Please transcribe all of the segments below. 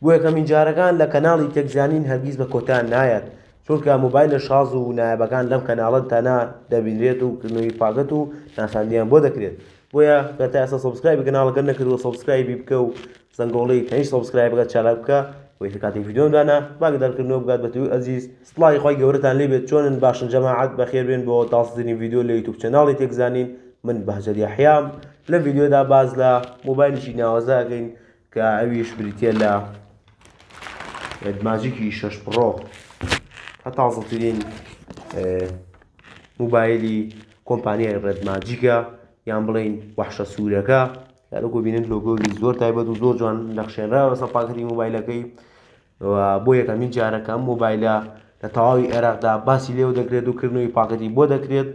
بۆ یەکەمین جارەکان لە کەناڵی تێک زانین هەرگیز بە کۆتا نایەت چونکە مۆبایلە شاز و نایابەکان لەم کەناڵە تەنها دەبینرێت و کردنەوەی پاکەت و ناساندیان بۆ دەکرێت بۆیە گەر تا ئێستا سەبسکرایبی کەناڵەکە نەکردووە سەبسکرایبی بکە و زەنگۆڵەی تەنیش سەبسکرایب بکە چالاک بکە وەی کە کاتی ڤیدیۆم دانا باگی دەرکردنەوە بگات بە توی ئەزیز سڵاوی خۆی گەورەتان لێ بێت چۆنن باشن جەماعەت بەخێر بێن بۆ تازەترین ڤیدیۆ لە یوتیوب چەناڵی تێک زانین من بەهجەت یەحیام لەم ڤیدیۆدا باس لە مۆبایلێکی ناوازە ئەکەین کە ئەویش بریتیە لە ماجیکی شەش پڕۆ هە تازەترین موبایلی کۆمپانیای ڕێد ماجیکە یان بڵین وەحشە سوورەکە یارۆکۆ بینن لۆگۆی زۆر تایبەت و زۆر جوان نەخشێنراوە سەر پاکەتی موبایلەکەی و بۆ یەکەمین جارە کە ئەم مۆبایلە لە تەواوی عێراقدا باسی لێوە دەکرێت و کردنەوەی پاکەتی بۆ دەکرێت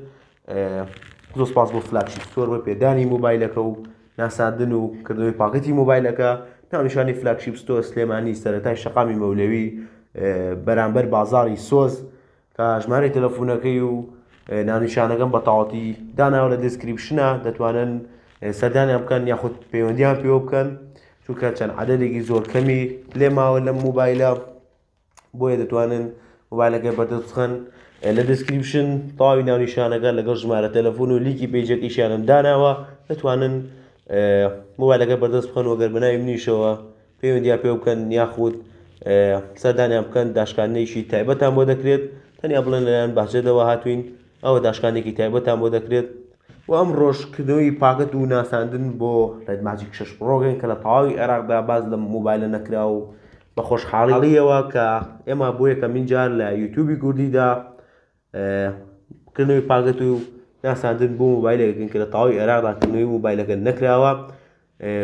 زۆر سپاس بۆ فلاگشیپ ستۆر بۆ پێدانی مۆبایلەکە و ناساندن و کردنەوەی پاکەتی مۆبایلەکە ناونیشانی فلاگشیپ ستۆر سلێمانی سەرەتای شەقامی مەولەوی بەرامبەر بازاڕی سۆز کە ژمارەی تەلەفونەکەی و ناونیشانەکەم بە تەواوەتی داناوە لە دیسکریپشنە دەتوانن سەردانیان بکەن یاخود پەیوەندیان پێوە بکەن چونکە چەند عەدەدێکی زۆر کەمی لێ ماوە لەم موبایلە بۆیە دەتوانن موبایلەکەی بەردەست بخەن لە دیسکریپشن تەواوی ناونیشانەکە لەگەڵ ژمارە تەلەفون و لیکی پێجێکیشیانم داناوە دەتوانن موبایلەکە بەردەست بخەن وەگەر بەناوی منیشەوە پەیوەندیان پێوە بکەن یاخود سەردانیان بکەن داشکاندنێکی تایبەتان بۆ دەکرێت تەنیا بڵێن لەلایەن بەهجەتەوە هاتوین ئەوە داشکاندێکی تایبەتان بۆ دەکرێت و ئەم ڕۆژکردنەوەی پاکەت و ناساندن بۆ ڕێد ماجیک شەش پڕۆگەین کە لە تەواوی عێراقدا باز لە مۆبایلە نەکرا و بە خۆشحاڵیەوە کە ئێمە بۆ یەکەمین جار لە یوتیوبی کوردیدا کردنەوەی پاکەت و ناساندن بۆ موبایلەکەکەن کە لە تەواوی عێراقدا کردنەوەی موبایلەکە نەکراوە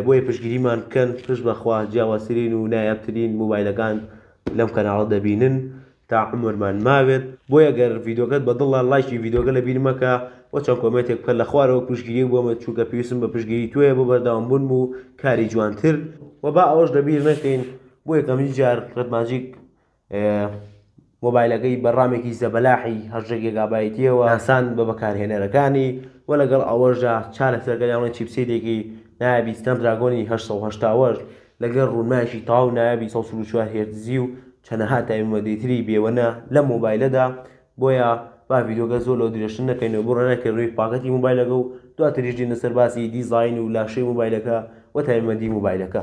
بۆیە پشگیریمان بکەن پشت بەخوا جیاوازترین و نایابترین موبایلەکان لەم کەناڵە دەبینن تا عمرمان ماوێت بۆیە گەر ڤیدۆکەت بە دڵە لایکی ڤیدۆکە لە بیرمەکە و چەند کۆمێتێک بکە لە خوارەوە پشگیری بۆمە چووکە پێویستم بە پشگیری توێە بۆ بەرداوام بوون و کاری جوانتر و با ئەوەش لەبیر نەکەین بۆ یەکەمین جار ڕەتماجیک مۆبایلەکەی بە ڕامێکی زەبەلاحی هەژدە گێگابایتیەوە ئاسان بە بەکارهێنەرەکانی و لەگەڵ ئەوەشدا چارەسەرەکە یاڵێن چیپسێتێکی نایابی سناپدراگۆنی هەشت سەد و هەشتا و هەشت لەگەڵ ڕوونمایەکی تەواو نایابی سەد و چل و چوار هێرتزی و چەندەها تایبەتمەندیتری بێوەنە لەم مۆبایلەدا بۆیە با ڤیدیۆکە زۆر لەو درێژتر نەکەینەوە بۆ ڕێنای کردنەوەی پاکەتی مۆبایلەکە و دواتریش دێنە سەر باسی دیزاین و لاشەی مۆبایلەکە و تایبەتمەندی مۆبایلەکە.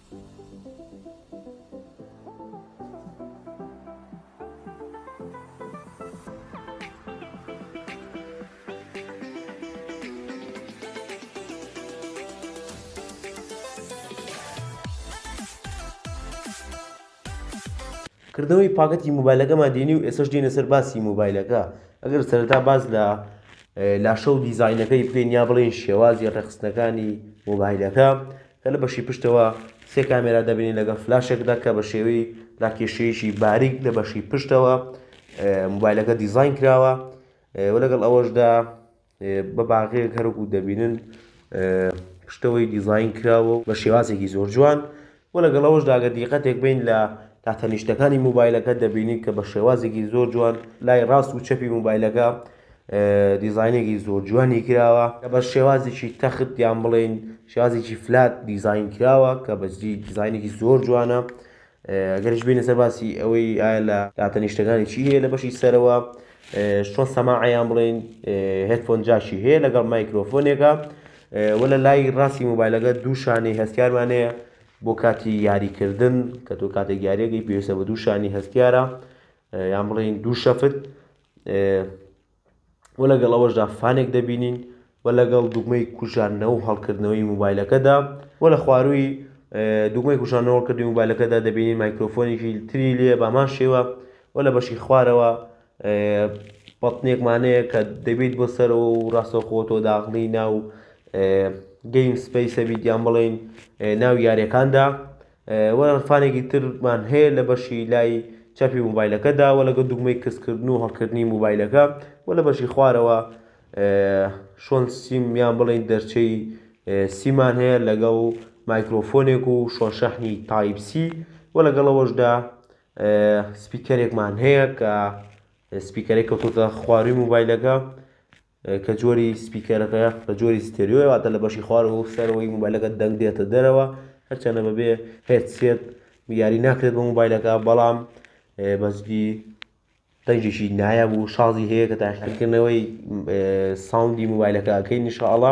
کردنەوەی پاکەتی موبایلەکەمان دێنی و ئێسش دێنە سەر باسی موبایلەکە ئەگەر سەرتا باز لە لاشە و دیزینەکەی بکەین یا بڵێن شێوازی ڕێخستنەکانی موبایلەکە لە بەشی پشتەوە سێ کامێرا دەبینین لەگەڵ فلاشێکدا کە بە شێوەی لاکێشەیەکی باریک لە بەشی پشتەوە موبایلەکە دیزین کراوە و لەگەڵ ئەوەشدا بە باغەیەک هەرکو دەبینن پشتەوەی دیزین کراوە و بە شێوازێکی زۆر جوان و لەگەڵ ئەوەشداگە دیقەتێک بین لە تاتەنیشتەکانی موبایلەکە دەبینین کە بە شێوازێکی زۆر جوان لای ڕاست و چەپی موبایلەکە دیزاینێکی زۆر جوانی کراوە کە بە شێوازێکی تەخت یان بڵێن شێوازێکی فلات دیزاین کراوە کە بەجدی دیزاینێکی زۆر جوانە گەرش بینە سەر باسی ئەوەی ئایا لە داتەنیشتەکانی چی هەیە لە بەشی سەرەوە شۆ سەماعیان بڵێن هێتفۆن جاشی هەیە لەگەڵ مایکرۆفۆنێکە وە لە لای ڕاستی موبایلەکە دوو شانەی هەستیارمانەیە بۆ کاتی یاریکردن کە تۆ کاتێک یاریەکەی پێویستە بە دوو شانی هەستیارە یان بڵێن دوو شەفت و لەگەڵ ئەوەشدا فانێک دەبینین و لەگەڵ دوگمەی کوژاندنەوە و هەڵکردنەوەی موبایلەکەدا و لە خوارووی دوگمەی کوژانەوە کردی موبایلەکەدا دەبینی مایکرۆفۆنێکی تری لێ بامان شێوە و لە بەشی خوارەوە بەڵتنێکمانەیە کە دەبیت بۆ سەرەوە و ڕاستەخۆ تۆ داخڵی ناو گەیم سپیسە بیت یان بڵێین ناو یاریەکاندا وە عرفانێکی ترمان هەیە لە بەشی لای چەپی موبایلەکەدا وە لەگە دوگمەی کزکردن و هەڵکردنی موبایلەکە وە لە بەشی خوارەوە شۆن سیمیان بڵین دەرچەی سیمان هەیە لەگەڵ مایکرۆفۆنێک و شۆن شەحنی تایپسی وە لەگەڵەوەشدا سپیکەرێکمان هەیە کە سپیکەرێک کەوتوتە خواروی موبایلەکە کە جۆری سپیکەرەکە بە جۆری ستێریۆیە واتە لە بەشی خوارەوە و سەرەوەی موبایلەکە دەنگ دێتە دەرەوە هەرچەندە بەبێ هێدسێت یاری ناکرێت بە موبایلەکە بەڵام بەجدی دەنگێکی نایاب و شازی هەیە کە تاقیکردنەوەی ساوندی موبایلەکە ئەکەین نیشاءاللە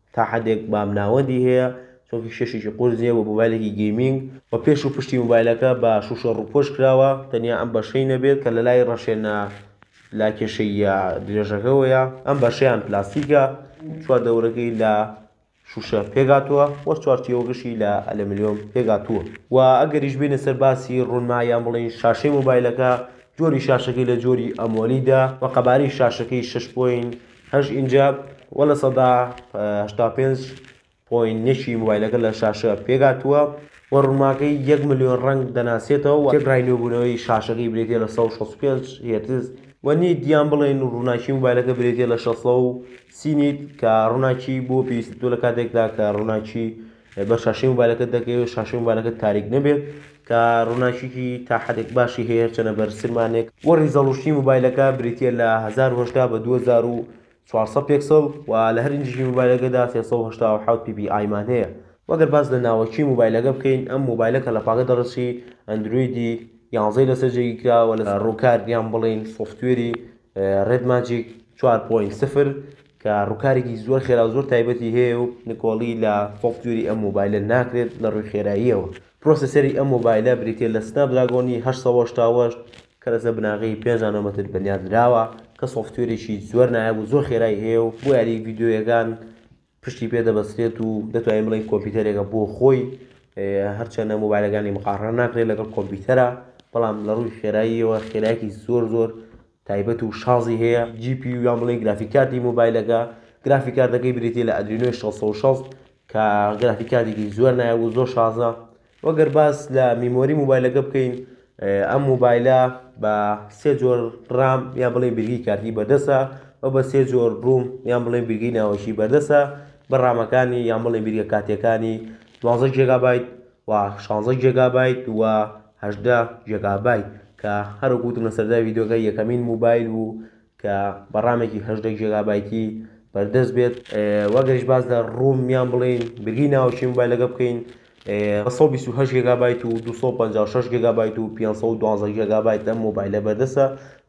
تا حەدێک بام ناوەندی هەیە چونکی شەشێکی قورس نییە بۆ مۆبایلێکی گەیمینگ و پێش و پشتی مۆبایلەکە بە شوشە ڕووپۆش کراوە تەنیا ئەم بەشەی نەبێت کە لەلای ڕەشێنە لا کێشەیە درێژەکەوەیە ئەم بەشیان پلاستیکە چوار دەورەکەی لە شوشە پێگاتووە وە چوارچیەوەگەشی لە ئەلەملیۆم پێگاتووە و ئەگەریش بینە سەر باسی ڕوونما یان بڵین شاشەی مۆبایلەکە جۆری شاشەکەی لە جۆری ئەمۆلیدا و قەبارەی شاشەکەی 6 پۆین هەش ئینجا وە لە سەدا هەشتا پێنج پۆین نەشی موبایلەکە لە شاشە پێگاتووە وە ڕوونماکەی یەک ملیۆن ڕەنگ دەناسێتەوە وە تێکڕای نوێبوونەوەی شاشەکەی برێتیە لە سەد و شەست و پێنج هێرتز وە نیت یان بڵێین ڕووناکی موبایلەکە برێتیە لە شەست سەد و سی نیت کە ڕووناکی بۆ پێویستە تۆ لە کاتێکدا کە ڕووناکی بەر شاشەی موبایلەکەت دەکەوێت شاشەی موبایلەکەت تاریک نەبێت کە ڕووناکیکی تا حەدێک باشی هەیە هەرچەنە بەر سلمانێک وە ڕیزەڵوشنی موبایلەکە بریتیە لە هەزار و هەشتا بە دوو هەزار و چوار سەد پێکسڵ و لە هەر ئینجیکی موبایلەکەدا سێ سەد و هەشتا و حەوت پی پی ئای مان هەیە وە گەر باس لە ناوەکی موبایلەکە بکەین ئەم موبایلە کە لە پاکە دەڕشی ئەندرۆیدی یانزەی لەسەر جێگیر کراوە لە ڕووکار یان بڵێین سۆفتوێری ڕێد ماجیک چوار پۆینت سفر کە ڕووکارێکی زۆر خێرا و زۆر تایبەتی هەیە و نکۆڵی لە سۆفتوێری ئەم مۆبایلە ناکرێت لە ڕووی خێراییەوە پرۆسەسەری ئەم مۆبایلە بریتیە لە سناپ دراگۆنی هەشت سەد و هەشتا و هەشت کە لەسەر بناغەی پێنج نانۆمەتر بنیات نراوە کە سۆفتوێرێکی زۆر نایاب و زۆر خێرای هەیە و بۆ یاری ڤیدیۆیەکان پشتی پێ دەبەستێت و دەتوانین بڵێین کۆمپیوتەرێکە بۆ خۆی هەرچەندە مۆبایلەکانی مقاڕنە ناکرێت لەگەڵ کۆمپیوتەرە بەڵام لە ڕووی خێراییەوە خێرایەکی زۆر زۆر تایبەت و شازی هەیە جی پی یان بڵێن گرافی کارتی مۆبایلەکە گرافی کارتەکەی بریتە لە ئەدرینۆی 660 کە گرافی کارتێکی زۆر نایە و زۆر شازە وە گەر باس لە میمۆری موبایلەکە بکەین ئەم موبایلە بە سێ جۆر ڕام یان بڵێ بیرگی کارتی بەردەسە و بە سێ جۆر ڕووم یان بڵێ بیرگی ناوەشی بەردەسە بە ڕامەکانی یان بڵێ بیرگە کاتیەکانی دوازە جێگابیت و شانزە جێگابیت و هەژدە جێگابیت کە هەرو گوتم لە سەردا ویدۆگە یەکەمین موبایل بوو کە بە ڕامێکی هەژدە جێگابایتی بەردەست بێت. وەگەرش باس لە ڕووم یان بڵێین برگی ناوەکی مۆبایلەکە بکەین، بە سەد و بیست و هەشت جێگابایت و دوو سەد و پەنجا و شەش جێگابایت و پێنج سەد و دوازدە جێگابایت لەم مۆبایلە بەردەستە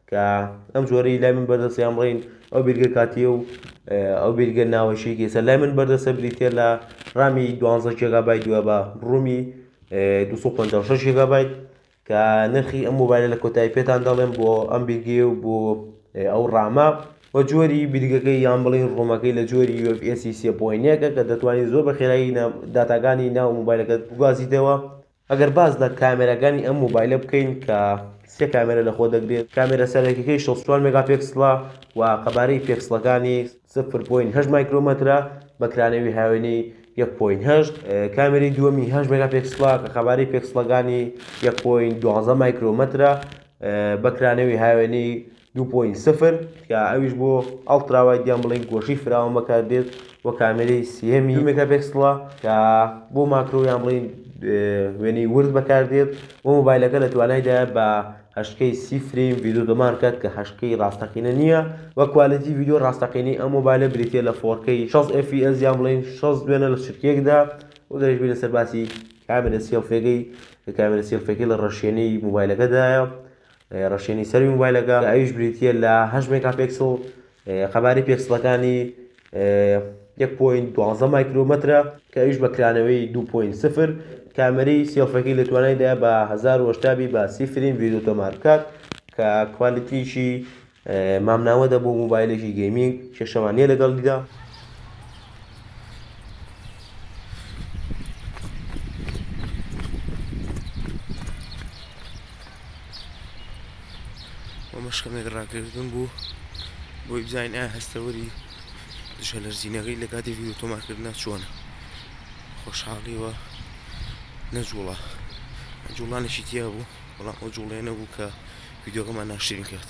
کە ئەم جۆرەی لای من بەردەستە یان بڵێین ئەو بیرگە کاتییە و ئەو بیرگە ناوەکی کە ئێستا لای من بەردەستە بریتییە لە ڕامی دوازدە جێگابایت و بە ڕوومی دوو سەد و پەنجا و شەش جێگابایت کە نرخی ئەم مۆبایلە لە کۆتایی پێتان دەڵێم بۆ ئەم بیرگەیە و بۆ ئەو ڕامە و جۆری بیرگەکەی یان بڵین ڕۆمەکەی لە جۆری UFS سێ پۆینەکە کە دەتوانانی زۆر بە خێرایی داتاکانی ناو مۆبایلەکەت بگوازیتەوە ئەگەر باز لە کامێراکانی ئەم مۆبایلە بکەین کە سێ کامێرە لەخۆ دەگرێت کامێرە سەرەکیەکەی 64 مێگاپێکسڵە و قەبارەی پێکسڵەکانی سفر پۆین هەشت مایکرۆمەترە بە کرانەوی هاوێنەی یەک پۆین هەشت کامێری دووەمی هەشت مێگا پێکسڵە کە خەباری پێکسڵەکانی یەک پۆین دوازە مایکرۆمەترە بە کرانەوی هاوێنەی دوو پۆین سفر کە ئەویش بۆ ئەڵتراوای دیان بڵێن گۆشی فراوان بەکار دێت و کامێری سیهمی مێگا پێکسڵە کە بۆ ماکرۆیان بڵین وێنەی ورد بەکار دێت و مۆبایلەکە لە توانایدا بە هەشکەی سی فرەیم ڤیدۆ دەمان کات کە هەشکەی ڕاستەقینە نییە وە کوالێتی ڤیدۆ ڕاستەقینەی ئەم مۆبایلە بریتیە لە فۆرکەی شەست ئێف پی ئێس یان بڵێین شەست دوێنە لە چرکەیەکدا وە گەر بینە سەر باسی کامێرە سێڵفێگەی کە کامێرە سێڵفێکی لە ڕەشێنی مۆبایلەکەدایە ڕەشێنی سەری مۆبایلەکە ئەویش بریتیە لە هەشت مێگا پێکسڵ قەبارەی پێکسڵەکانی یەک پۆینت دوازدە مایکرۆمەترە کە ئەویش بە کرانەوەی دوو پۆینت سفر کامەری سێڵفەکەی لە توانایدا بە هەزار و هەشتا بی بە سی فریم ڤیدیۆ تۆمار بکات کە کوالیتیشی مامناوە دەبوو موبایلێکی گەیمینگ کێشەمان نییە لەگەڵیدا ئەمەش کەمێک ڕاگەردن بوو بۆی بزانین ئایا هەستەوەری دژە لەرزینەکەی لە کاتی ڤیدیو تۆمارکردنا چۆنە خۆشحاڵیوە نەجوڵە جوڵانێکی تیا بوو بەڵام ئەو جوڵێ نەبوو کە ڤیددیوگەمان ناشرین کرد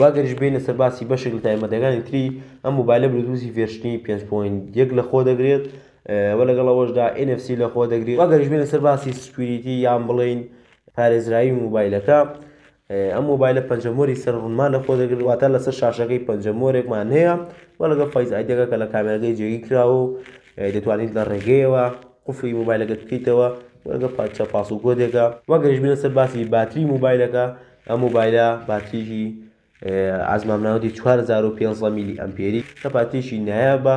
و ئەگەریش بێنە سەر باسی بەشێک لە تایبەتەکانی تری ئەم موبایلە بلوتوسی ڤێرشنی 5.1 لە خۆ دەگرێت و لەگەڵ ئەوەشدا NFC لە خۆ دەگرێت ئەگەریش بێنە سەر باسی سکوریتی یان بڵین پارێزراوی موبایلەکە ئەم مۆبایلە پەنجە مۆری سەر ڕوونمان لە خۆ دەگرێت واتە لەسەر شاشەکەی پەنجە مۆرێکمان هەیە و لەگەڵ فەیس ئایدەکە کە لە کامێرەکەی جێگی کراوە و دەتوانیت لە ڕێگەیەوە قفلی مۆبایلەکە بکەیتەوە وەگە پادچە پاس و گۆدێکە وەگەرش بینە سەر باسی باتری مۆبایلەکە ئەم مۆبایلە باتریی ئازمامناوەتی 4500 میلی ئەمپێری کە پاتریشی نایابە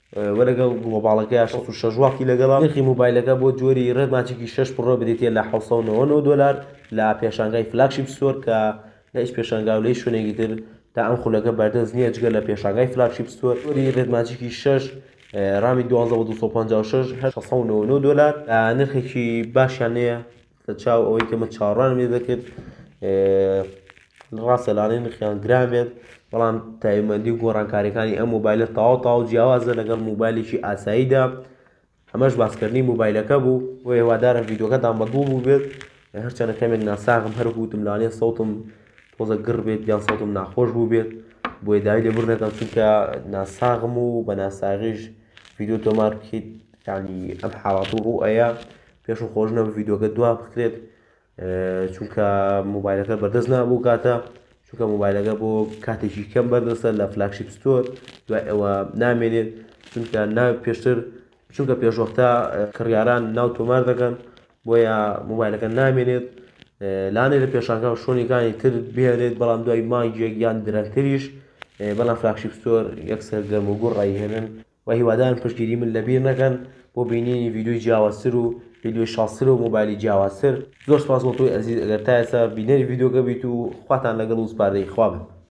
و لەگەڵ گڵۆباڵەکەیا شەست و شەش واتی لەگەڵە. نرخی موبایلەکە بۆ جۆری Red Magic شەش پڕۆ بریتییە لە حەوت سەد و نەوەد و نۆ دۆلار لە پێشانگای Flagship Store کە لە هیچ پێشانگا و لە هیچ شوێنێکی تر تا ئەم خولەکە بەردەست نییە جگە لە پێشانگای Flagship Store. جۆری Red Magic شەش ڕامی دوازدە و دوو سەد و پەنجا و شەش هەر شەش سەد و نەوەد و نۆ دۆلار لە نرخێکی باشیان نەیە. لە چاو ئەوەی کە من چاوەڕوانم لێ دەکرد ڕاستە لانەی نرخیان گران بێت بەڵام تایبەندی و گۆڕانکاریەکانی ئەم مۆبایلە تاوا تاو جیاوازە لەگەڵ موبایلێکی ئاساییدا ئەمەش باسکردنی موبایلەکە بوو و هێوادارە ڤیددیوکەتان بەدڵ بوو بێت هەرچەنە کەمێک ناساغم هەرگوتم لانێ سەوتم تۆزە گڕ بێت یان سەوتم ناخۆش بوو بێت بۆیە داوی لێ بر نەکەم چونکە ناساغم و بە ناساغیش ڤیددیو تۆمار بکەیت ینی ئەم حاڵات و ڕوو ئەیە پێشم خۆش نەبوو ڤیدۆکە دوا بکرێت چونکە موبایلەکە بەردەست نابوو کاتە چونکە موبایلەکە بۆ کاتێکی کەم بەردەستە لە فلاکشیپ ستۆر دوای ئەوە نامێنێت چونکە ناو پێشتر چونکە پێشوەختە کڕیاران ناو تۆمار دەکەن بۆیە موبایلەکە نامێنێت لانێ لە پێشانکە و شوۆنیەکانی تر بێنێت بەڵام دوای مانگێک یان درەنگتریش بەڵام فلاکشیپ ستۆر یەکسەر گەرم و گوڕ ڕایهێنن وە هیوادارم پشتگیری من لەبیر نەکەن بۆ بینینی ڤیدیۆی جیاوازتر و ڤیدیۆی شازتر و مۆبایلی جیاوازتر زۆر سوپاس بۆ تۆی ئەزیز ئەگەر تا ئێستا بینەری ڤیدیۆکە بیت و خواتان لەگەڵ و سپاردەی خوا بن.